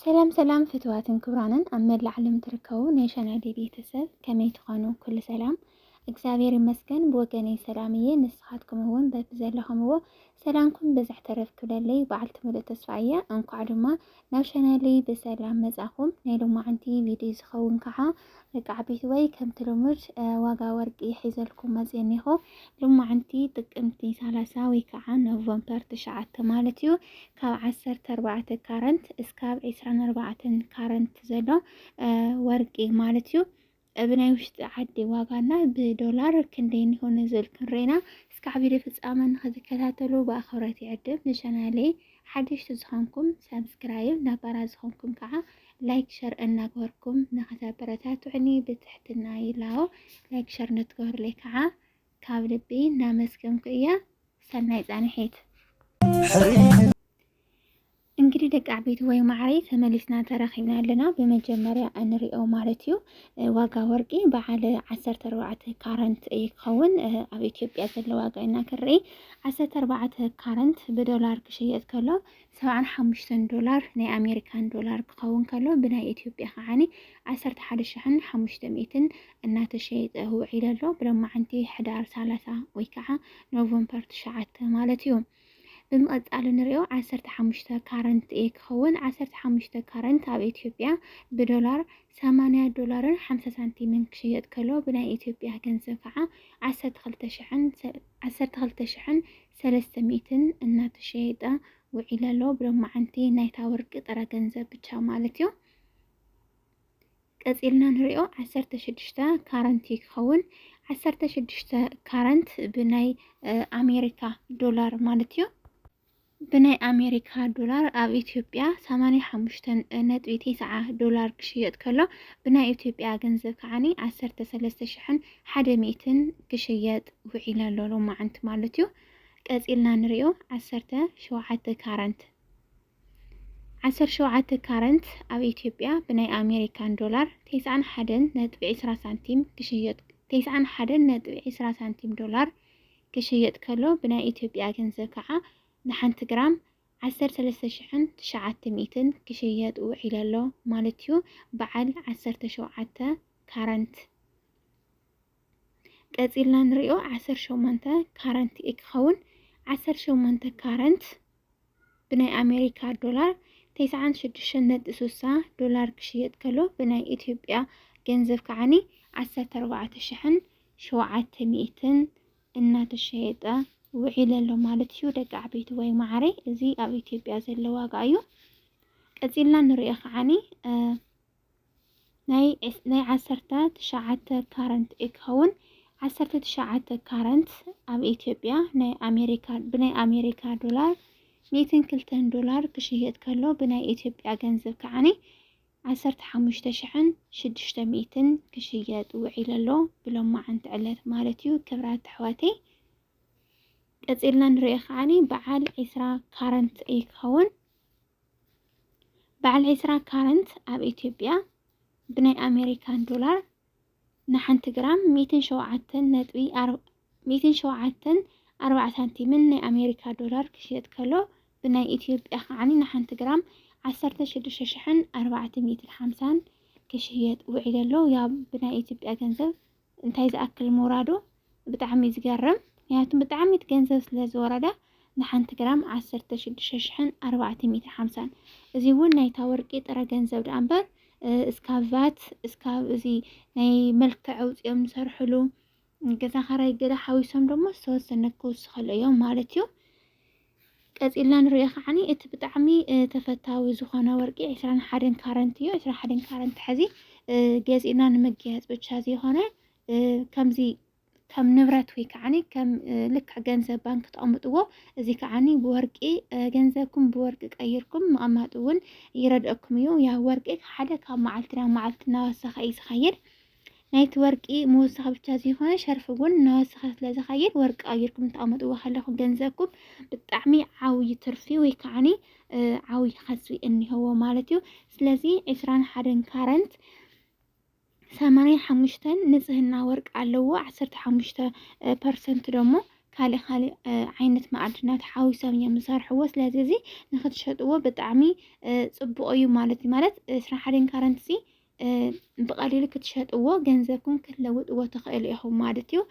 ሰላም ሰላም ፍትዋትን ክብራንን ኣብ መላእ ዓለም ትርከቡ ናይ ሸናይደ ቤተሰብ ከመይ ትኾኑ? ኩሉ ሰላም እግዚኣብሔር ይመስገን ብወገነይ ሰላም እየ። ንስኻትኩም እውን በቢ ዘለኹምዎ ሰላምኩም ብዝሕ ተረፍ ክብለለይ በዓልቲ ሙሉእ ተስፋ እየ። እንኳዕ ድማ ናብ ሸናለይ ብሰላም መጻኹም። ናይ ሎማዓንቲ ቪድዮ ዝኸውን ከዓ ደቂ ዓበይቲ ወይ ከምቲ ልሙድ ዋጋ ወርቂ ሒዘልኩም መፅእ እኒኹ ልማዕንቲ ጥቅምቲ ሰላሳ ወይ ከዓ ኖቨምበር ትሽዓተ ማለት እዩ ካብ ዓሰርተ ኣርባዕተ ካረንት እስካብ ዕስራን ኣርባዕተን ካረንት ዘሎ ወርቂ ማለት እዩ ብናይ ውሽጢ ዓዲ ዋጋና ብዶላር ክንደይ እንሆነ ዘልክን ሬና እስካዕ ቪድዮ ፍፃመ ንክትከታተሉ ብኣኽብረት ይዕድም ንቻናለይ ሓደሽቲ ዝኮንኩም ሳብስክራይብ ነባራት ዝኮንኩም ካዓ ላይክ ሸር እናገበርኩም ንክተበረታቱዑኒ ብትሕትና ይላቦ ላይክ ሸር ንትገብሩለይ ካዓ ካብ ልቢ እናመስገንኩ እየ ሰናይ ፃንሒት እንግዲህ ደቂ ዓበይቲ ወይ ማዕረይ ተመሊስና ተራኺብና ኣለና። ብመጀመርያ እንሪኦ ማለት እዩ ዋጋ ወርቂ በዓል ዓሰርተ ኣርባዕተ ካረንት እዩ ክኸውን ኣብ ኢትዮጵያ ዘሎ ዋጋ ኢና ክርኢ ዓሰርተ ኣርባዕተ ካረንት ብዶላር ክሽየጥ ከሎ ሰብዓን ሓሙሽተን ዶላር ናይ ኣሜሪካን ዶላር ክኸውን ከሎ ብናይ ኢትዮጵያ ከዓኒ ዓሰርተ ሓደ ሽሕን ሓሙሽተ ሚእትን እናተሸየጠ ውዒሉ ኣሎ ብሎማዓንቲ ሕዳር ሰላሳ ወይ ከዓ ኖቨምበር ትሽዓተ ማለት እዩ። ብምቕጻል ንሪኦ ዓሰርተ ሓሙሽተ ካረንት እየ ክኸውን ዓሰርተ ሓሙሽተ ካረንት ኣብ ኢትዮጵያ ብዶላር ሰማንያ ዶላርን ሓምሳ ሳንቲምን ክሽየጥ ከሎ ብናይ ኢትዮጵያ ገንዘብ ከዓ ዓሰርተ ክልተ ሽሕን ሰ- ዓሰርተ ክልተ ሽሕን ሰለስተ ሚእትን እናተሸየጠ ውዒለ ኣሎ ብሎማዓንቲ ናይታ ወርቂ ጥረ ገንዘብ ብቻ ማለት እዩ ቀጺልና ንሪኦ ዓሰርተ ሽዱሽተ ካረንት እዩ ክኸውን። ዓሰርተ ሽዱሽተ ካረንት ብናይ ኣሜሪካ ዶላር ማለት እዩ። ብናይ ኣሜሪካ ዶላር ኣብ ኢትዮጵያ 85.90 ዶላር ክሽየጥ ከሎ ብናይ ኢትዮጵያ ገንዘብ ከዓኒ 13100 ክሽየጥ ውዒለ ኣሎ ሎማዓንቲ ማለት እዩ። ቀፂልና ንሪኦ 17 ካረንት ዓሰርተ ሸውዓተ ካረንት ኣብ ኢትዮጵያ ብናይ ኣሜሪካን ዶላር ተስዓን ሓደን ነጥቢ ዕስራ ሳንቲም ክሽየጥ ተስዓን ሓደን ነጥቢ ዕስራ ሳንቲም ዶላር ክሽየጥ ከሎ ብናይ ኢትዮጵያ ገንዘብ ከዓ ንሓንቲ ግራም ዓሰርተ ሰለስተ ሽሕን ትሽዓተ ሚእትን ክሽየጥ ውዒሉ ኣሎ ማለት እዩ። በዓል ዓሰርተ ሸውዓተ ካረንት ቀጺልና ንሪኦ ዓሰርተ ሸሞንተ ካረንት እዩ ክኸውን ዓሰርተ ሸሞንተ ካረንት ብናይ ኣሜሪካ ዶላር ተስዓን ሽዱሽተን ነጥቢ ስሳ ዶላር ክሽየጥ ከሎ ብናይ ኢትዮጵያ ገንዘብ ከዓኒ ዓሰርተ ኣርባዕተ ሽሕን ሸውዓተ ሚእትን እናተሸየጠ ውዒለ ኣሎ ማለት እዩ። ደቂ ዓበይቲ ወይ ማዕረይ እዚ ኣብ ኢትዮጵያ ዘሎ ዋጋ እዩ። ቀጺልና ንሪኦ ከዓኒ ናይ ናይ ዓሰርተ ትሽዓተ ካረንት እዩ ክኸውን ዓሰርተ ትሽዓተ ካረንት ኣብ ኢትዮጵያ ናይ ኣሜሪካ ብናይ ኣሜሪካ ዶላር ሚእትን ክልተን ዶላር ክሽየጥ ከሎ ብናይ ኢትዮጵያ ገንዘብ ከዓኒ ዓሰርተ ሓሙሽተ ሽሕን ሽዱሽተ ሚእትን ክሽየጥ ውዒሉ ኣሎ ብሎማዓንቲ ዕለት ማለት እዩ ክብራት ኣሕዋተይ ቀፂልና ንሪኦ ከዓኒ በዓል ዒስራ ካረንት እዩ ክኸውን በዓል ዕስራ ካረንት ኣብ ኢትዮጵያ ብናይ ኣሜሪካን ዶላር ንሓንቲ ግራም ሚእትን ሸውዓተን ነጥቢ ኣር- ሚእትን ሸውዓተን ኣርባዓ ሳንቲምን ናይ ኣሜሪካ ዶላር ክሽየጥ ከሎ ብናይ ኢትዮጵያ ከዓኒ ንሓንቲ ግራም ዓሰርተ ሽዱሽተ ሽሕን ኣርባዕተ ሚእትን ሓምሳን ክሽየጥ ውዒሉ ኣሎ። ያው ብናይ ኢትዮጵያ ገንዘብ እንታይ ዝኣክል ምውራዱ ብጣዕሚ ዝገርም ምክንያቱ ብጣዕሚት ገንዘብ ስለ ዝወረዳ ንሓንቲ ግራም ዓሰርተ ሽዱሽተ ሽሕን ኣርባዕተ ሚእትን ሓምሳን እዚ እውን ናይታ ወርቂ ጥረ ገንዘብ ደኣ እምበር እስካብ ቫት እስካብ እዚ ናይ መልክዕ ኣውፂኦም ዝሰርሕሉ ገዛ ኸራይ ገለ ሓዊሶም ደሞ ዝተወሰነ ክውስኸሉ እዮም ማለት እዩ። ቀጺልና ንሪኦ ከዓኒ እቲ ብጣዕሚ ተፈታዊ ዝኾነ ወርቂ ዕስራን ሓደን ካረንት እዩ። ዕስራ ሓደን ካረንት ሕዚ ገዚእና ንምግያጽ ብቻ ዘይኾነ ከምዚ ከም ንብረት ወይ ከዓኒ ከም ልክዕ ገንዘብ ባንክ ተቐምጥዎ እዚ ከዓኒ ብወርቂ ገንዘብኩም ብወርቂ ቀይርኩም ምቕማጥ እውን ይረድአኩም እዩ። ያ ወርቂ ሓደ ካብ መዓልቲ ናብ መዓልቲ እናወሰኸ እዩ ዝኸይድ። ናይቲ ወርቂ ምውሳኽ ብቻ ዘይኮነ ሸርፊ እውን እናወሰኸ ስለ ዝኸይድ ወርቂ ቀይርኩም እተቐመጥዎ ከለኹም ገንዘብኩም ብጣዕሚ ዓብዪ ትርፊ ወይ ከዓኒ ዓብዪ ከስቢ እኒሀዎ ማለት እዩ። ስለዚ ዕስራን ሓደን ካረንት ሰማንያን ሓሙሽተን ንጽህና ወርቂ ኣለዎ ዓሰርተ ሓሙሽተ ፐርሰንት ደሞ ካልእ ካልእ ዓይነት መኣድናት ሓዊሶም እዮም ዝሰርሕዎ ስለዚ እዚ ንክትሸጥዎ ብጣዕሚ ፅቡቕ እዩ ማለት እዩ ማለት ስራሕ ሓደን ካረንት እዚ ብቐሊሉ ክትሸጥዎ ገንዘብኩም ክትለውጥዎ ትኽእሉ ኢኹም ማለት እዩ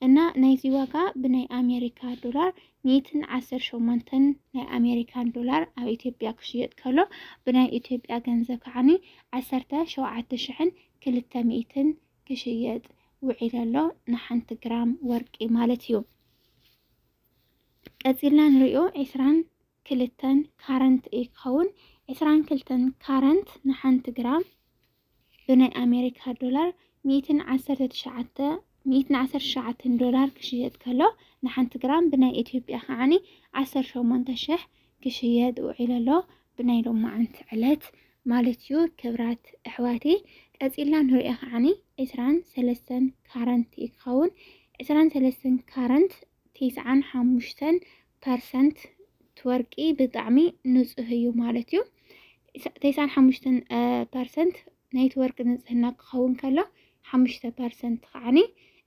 እና ናይዚ ዋጋ ብናይ ኣሜሪካ ዶላር ሚእትን ዓሰርተ ሸሞንተን ናይ ኣሜሪካን ዶላር ኣብ ኢትዮጵያ ክሽየጥ ከሎ ብናይ ኢትዮጵያ ገንዘብ ከዓኒ ዓሰርተ ሸውዓተ ሽሕን ክልተ ሚእትን ክሽየጥ ውዒለ ኣሎ ንሓንቲ ግራም ወርቂ ማለት እዩ። ቀፂልና ንሪኦ ዕስራን ክልተን ካረንት እዩ ክኸውን። ዕስራን ክልተን ካረንት ንሓንቲ ግራም ብናይ ኣሜሪካ ዶላር ሚእትን ዓሰርተ ትሽዓተ ሚእትን ዓሰርተ ትሽዓተን ዶላር ክሽየጥ ከሎ ንሓንቲ ግራም ብናይ ኢትዮጵያ ከዓኒ ዓሰርተ ሸሞንተ ሽሕ ክሽየጥ ውዒሉ ኣሎ ብናይ ሎማዓንቲ ዕለት ማለት እዩ። ክብራት ኣሕዋተይ ቀጺልና ንሪኦ ከዓኒ ዕስራን ሰለስተን ካረንት እዩ ክኸውን። ዕስራን ሰለስተን ካረንት ቲስዓን ሓሙሽተን ፐርሰንት ትወርቂ ብጣዕሚ ንፁህ እዩ ማለት እዩ። ቴስዓን ሓሙሽተን ፐርሰንት ናይቲ ወርቂ ንፅህና ክኸውን ከሎ ሓሙሽተ ፐርሰንት ከዓኒ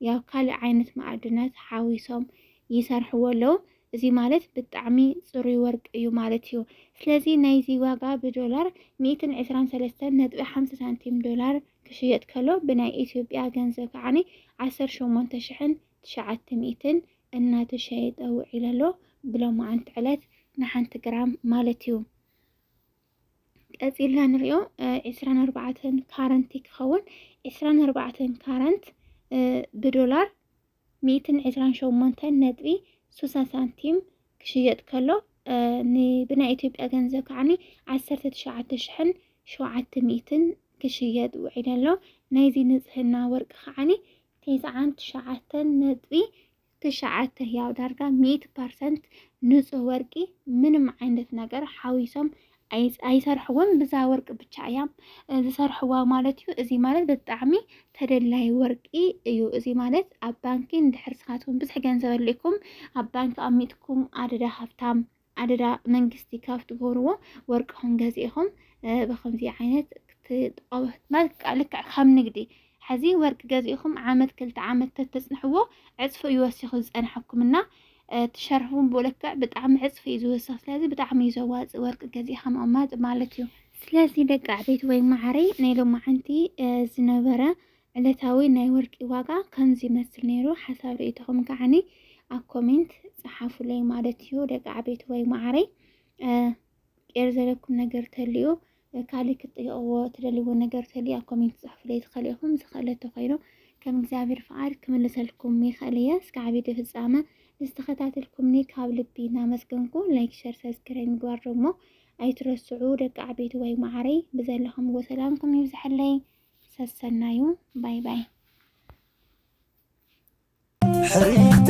ያው ካልእ ዓይነት ማዕድናት ሓዊሶም ይሰርሕዎ ኣለዉ። እዚ ማለት ብጣዕሚ ፅሩይ ወርቂ እዩ ማለት እዩ። ስለዚ ናይዚ ዋጋ ብዶላር ሚእትን ዕስራን ሰለስተን ነጥቢ ሓምሳ ሳንቲም ዶላር ክሽየጥ ከሎ ብናይ ኢትዮጵያ ገንዘብ ከዓኒ ዓሰርተ ሸሞንተ ሽሕን ትሽዓተ ሚእትን እናተሸየጠ ውዒሉ ኣሎ፣ ብሎማዓንቲ ዕለት ንሓንቲ ግራም ማለት እዩ። ቀፂልና ንሪኦ ዕስራን ኣርባዕተን ካረንት ክኸውን ዕስራን ኣርባዕተን ካረንት ብዶላር ሚእትን ዕስራን ሸሞንተን ነጥቢ ሱሳ ሳንቲም ክሽየጥ ከሎ ብናይ ኢትዮጵያ ገንዘብ ከዓኒ ዓሰርተ ትሽዓተ ሽሕን ሸውዓተ ሚእትን ክሽየጥ ውዒሉ ኣሎ። ናይዚ ንፅህና ወርቂ ከዓኒ ቴስዓን ትሽዓተን ነጥቢ ትሽዓተ ያው ዳርጋ ሚእቲ ፐርሰንት ንፁህ ወርቂ ምንም ዓይነት ነገር ሓዊሶም ኣይሰርሕዎን ብዛ ወርቂ ብቻ እያም ዝሰርሕዋ ማለት እዩ። እዚ ማለት ብጣዕሚ ተደላይ ወርቂ እዩ። እዚ ማለት ኣብ ባንኪ እንድሕር ስኻትኩም ብዙሕ ገንዘብ ኣልኩም ኣብ ባንኪ ኣሚጥኩም ኣደዳ ሃብታም ኣደዳ መንግስቲ ካብ ትገብርዎ ወርቅኹም ገዚእኹም ብኸምዚ ዓይነት ክትጥቀሙ መልክዕ ልክዕ ከም ንግዲ ሐዚ ወርቂ ገዚእኹም ዓመት ክልተ ዓመት ተተፅንሕዎ ዕፅፊ እዩ ወሲኹ ዝፀንሐኩም እና ትሸርፍውን ብኡ ልክዕ ብጣዕሚ ዕፅፊ እዩ ዝውስኽ ስለዚ ብጣዕሚ እዩ ዘዋፅእ ወርቂ ገዚእኻ ምቕማጥ ማለት እዩ። ስለዚ ደቂ ኣዕበይቲ ወይ ማዓረይ ናይ ሎማዓንቲ ዝነበረ ዕለታዊ ናይ ወርቂ ዋጋ ከምዚ ይመስል ነይሩ ሓሳብ ሪኢቶኹም ከዓኒ ኣብ ኮሜንት ጸሓፉለይ ማለት እዩ ደቂ ዓበይቲ ወይ ማዓረይ ቄር ዘለኩም ነገር ተልዩ ካልእ ክትጥይቕዎ ትደልይዎ ነገር ተልዩ ኣብ ኮሜንት ጽሑፉለይ ትኸእሉ ኢኹም ዝኸእለ ተኾይኑ ከም እግዚኣብሔር ፍቃድ ክምልሰልኩም ይኸእል እየ እስከ ዓብዪ ፍጻመ ንዝተኸታተልኩምኒ ካብ ልቢ እናመስገንኩ ላይክ ሸር ሰብስክራይብ ምግባር ደግሞ ኣይትረስዑ ደቂ ዓበይቲ ወይ ማዓረይ ብዘለኹምዎ ሰላምኩም ይብዝሐለይ ሰሰናዩ ባይ ባይ ሕርኢት